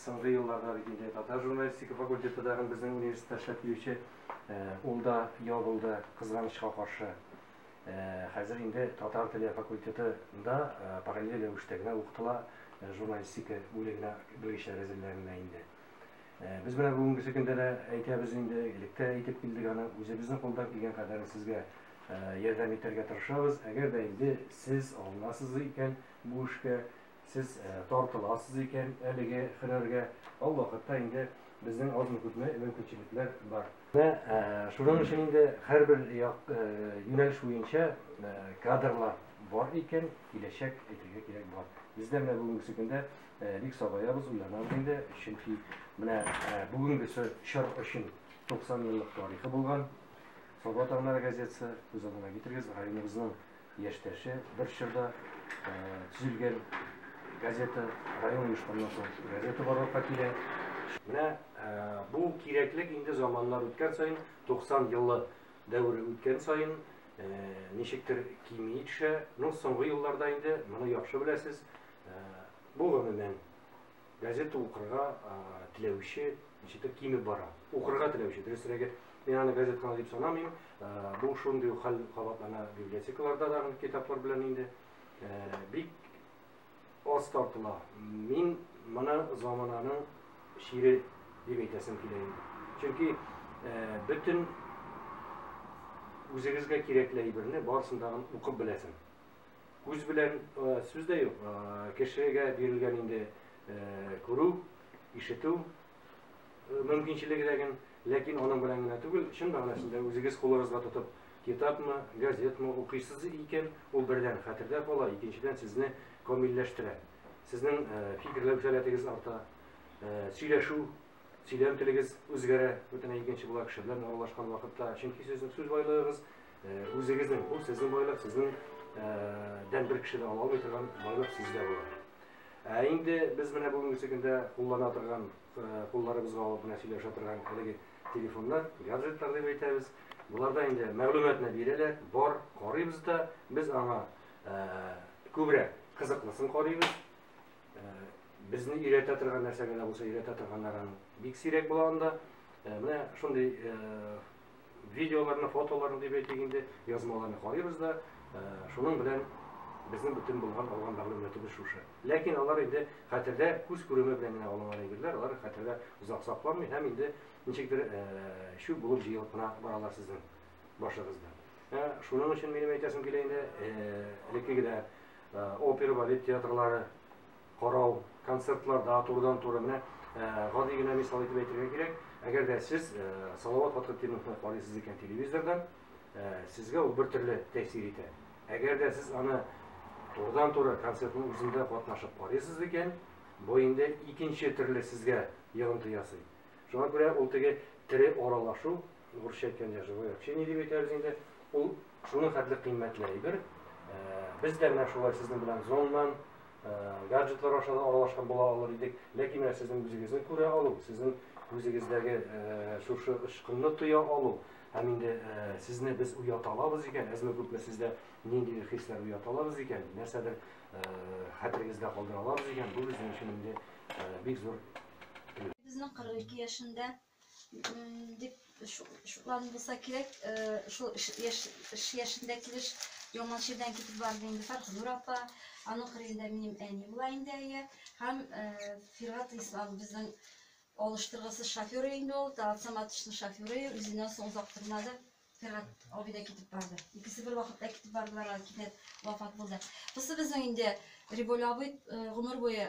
Соңгы елларда бит инде татар журналистика факультеты тагын безнең университетта эшләп килүче, ул да ябылды, кызганычка каршы. Хәзер инде татар теле факультетында параллель рәвештә генә укытыла журналистика бүлегенә белгечләр әзерләнелә инде. Без менә бүгенгесе көндә дә әйтәбез инде, элек тә әйтеп килдек аны, үзебезнең кулдан килгән кадәрен сезгә ярдәм итәргә тырышабыз. Әгәр дә инде сез алынасыз икән бу эшкә, Сез тартыласыз икән әлеге хөрәргә, ал вакытта инде безнең азмы-күпме мөмкинчелекләр бар. Менә шуның өчен инде һәрбер як юнәлеш буенча кадрлар бар икән, киләчәк әйтергә кирәк бар. Без дә менә бүгенгесе көндә бик сабаябыз, уйланабыз инде, чөнки менә бүгенгесе чор өчен 90 еллык тарихы булган Саба таңнары газетасы, күз алдына китерегез, районыбызның Яшьтәше бер чорда төзелгән газета, район оешканнан соң газета барлыкка килә. Менә бу кирәклек инде заманнар үткән саен, 90 еллы дәвере үткән саен ничектер кими төшә. Ну, соңгы елларда инде, моны яхшы беләсез, бу гомумән Газета укырга теләүче ничектер кимеп бара. Укырга теләүче, дөресрәге, мин аны газетаны дип санамыйм. Бу шундый ук хәл кабатлана библиотекаларда да китаплар белән инде. Бик аз тартыла. Мин моны замананың чире дип әйтәсем килә инде. Чөнки бөтен үзегезгә кирәкле әйберне барысын да укып беләсең. Күз белән сүз дә юк, кешегә бирелгән инде күрү, ишетү мөмкинчелеге дә генә, ләкин аның белән генә түгел, чын мәгънәсендә үзегез кулыгызга тотып, китапмы, газетмы укыйсыз икән, ул бердән хәтердә кала, икенчедән сезне камилләштерә. Сезнең фикерләү сәләтегез арта, сөйләшү Сөйләм телегез үзгәрә, бөтенләй икенче була кеше белән аралашкан вакытта. Чөнки сезнең сүз байлыгыгыз үзегезнең, бу сезнең байлык, сезнең дән бер кеше дә ала алмый торган байлык сездә була. Ә инде без менә бүгенге көндә куллана торган, кулларыбызга алып менә сөйләшә торган әлеге телефоннар, гаджетлар дип әйтәбез. Боларда инде мәгълүматны бирәләр, бар, карыйбыз да, без аңа күбрәк кызыклысын карыйбыз. Безне өйрәтә торган нәрсә генә булса өйрәтә торганнарын бик сирәк була анда. Менә шундый видеоларны, фотоларны дип әйтик инде, язмаларны карыйбыз да, шуның белән безнең бөтен булган алган мәгълүматыбыз шушы. Ләкин алар инде хәтердә күз күреме белән генә алынган әйберләр, алар хәтердә озак сакланмый һәм инде ничектер чүп булып җыелып кына баралар сезнең башыгызда. Шуның өчен минем әйтәсем килә инде, элеккеге дә Опера, балет театрлары карау, концертларда турыдан-туры менә гади генә мисал итеп әйтергә кирәк, әгәр дә сез Салават Фатхетдиновны карыйсыз икән телевизордан, сезгә ул бер төрле тәэсир итә. Әгәр дә сез аны турыдан-туры концертның үзендә катнашып карыйсыз икән, бу инде икенче төрле сезгә йогынты ясый. Шуңа күрә ул теге тере аралашу Урысча әйткәндә, живое общение дип әйтәбез инде. Ул шуның хәтле кыйммәтле әйбер. Без дә менә шулай сезнең белән зоннан, гаджетлар аша да аралашкан була алыр идек. Ләкин менә сезнең үзегезне күрә алу, сезнең үзегездәге шушы ычкынны тоя алу, һәм инде сезне без уята алабыз икән, әзме-күпме сездә нинди хисләр уята алабыз икән, нәрсәдер хәтерегездә калдыра алабыз икән, бу безнең өчен инде бик зур. Безнең 42 яшендә дип шуларны булса кирәк, шул эш яшендә килеш яңа җирдән китеп барды инде Фәрхнур апа, аның кырыенда минем әни була инде әйе, һәм Фиргат Ислам безнең алыштыргысыз шоферы инде ул, Талат Саматовичның шоферы, үзеннән соң озак тормады. Фиргат абый да китеп барды. Икесе бер вакытта китеп бардылар, кинәт вафат булды. Бусы безнең инде Риболь абый гомер буе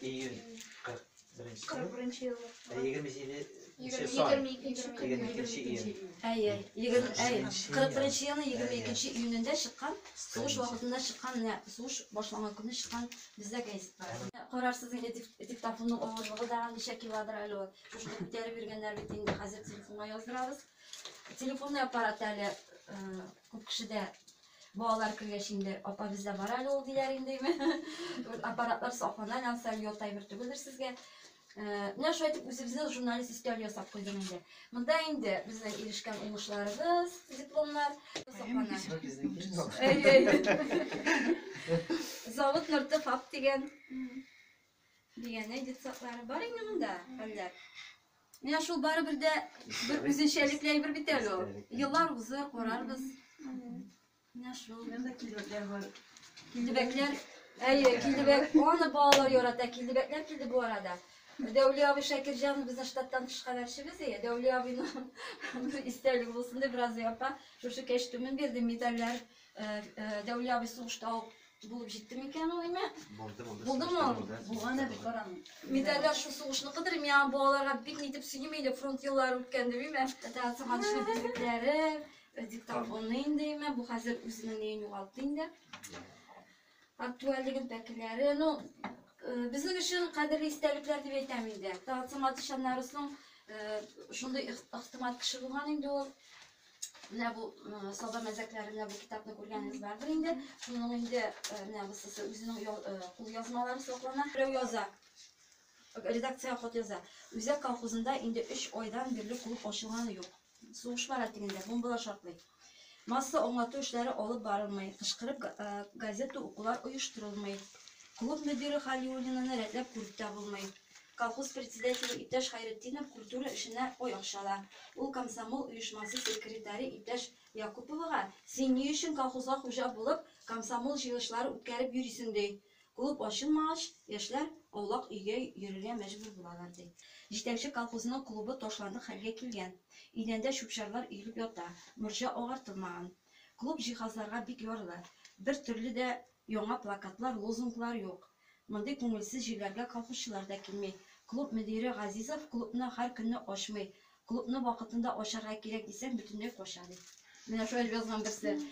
Июнь 41 Кырык беренче ел. Ә 27 нче сан. 22 июнь. Әй, әй, егерме, әй, Җиденче кырык беренче елның егерме икенче июнендә чыккан, сугыш вакытында чыккан, менә сугыш башланган көнне чыккан бездә гәзитләр. Карарсыз инде дик- диктофонның авырлыгы да ничә килодыр әле ул. Шушы күтәреп йөргәннәр бит инде, хәзер телефонга яздырабыз. Телефонный аппарат әле э, Күп кеше дә балалар кергәч инде апа бездә бар әле ул диләр индеме. Аппаратлар саклана янса ят әйбер түгелдер сезгә. Э, менә шулай итеп үзебезне журналист өстәл ясап куйдым инде. Монда инде безнең ирешкән уңышларыбыз, дипломнар саклана. Завод Норты фаб дигән Дигәнәй детсаклары бар инде монда, хәлләр. Менә шул барыбер дә бер үзенчәлекле әйбер бит әле ул. Еллар узыр, карарбыз. Менә шул. Монда килбәкләр бар. Килбәкләр, әйе, килбәк, аны балалар ярата, килбәкләр килде бу арада. Дәүли абый Шакирҗан безнең штаттан тыш хәбәрчебез, әйе, Дәүли абыйның бер истәлеге булсын дип, Разый апа шушы кәчтүмен бирде, медальләр Дәүлия абый сугышта ук булып җитте микән ул име? Булды, булды. Булдымы ул? Булган иде, карам. Медальләр шул сугышныкыдыр име? Яңа балаларга бик нитеп сөйлим инде, фронт еллары үткән дип име? Әтә сагынычлы билекләре, диктофонны инде име? Бу хәзер үзенең неен югалтты инде. Актуальлегын пәкеләре, ну, э, безнең өчен кадерле истәлекләр дип әйтәм инде. Тагсымат ишаннарысның э, шундый ихтимат кеше булган инде ул. Менә бу э, саба мәзәкләрендә бу китапны күргәнегез бардыр инде. Шуның инде менә бусысы үзенең кул язмалары саклана. Берәү яза. Редакциягә хат яза. Үзәк колхозында инде өч айдан бирле клуб ачылганы юк. Сугышма рәтегендә, бомбалар шартлый. Масса аңлату эшләре алып барылмый, кычкырып газета укулар оештырылмый. Клуб мөдире Халиуллинаны рәтләп күреп тә булмый. Колхоз председателе иптәш Хәйретдинов культура эшенә ой акчала. Ул комсомол оешмасы секретаре иптәш Якуповага, Син ни өчен колхозга хуҗа булып, комсомол җыелышлары үткәреп йөрисең, ди. Клуб ачылмагач, яшьләр аулак өйгә йөрергә мәҗбүр булалар, ди. Җитәкче колхозның клубы ташландык хәлгә килгән. Идәндә чүп-чарлар өелеп ята, морҗа агартылмаган. Клуб җиһазларга бик ярлы. Бер төрле дә яңа плакатлар, лозунглар юк. Мондый күңелсез җирләргә колхозчылар да килми. Клуб мөдире Газизов клубны һәр көнне ачмый. Клубны вакытында ачарга кирәк дисәң, бөтенләй кача, ди. Менә шулай дип язган берсе.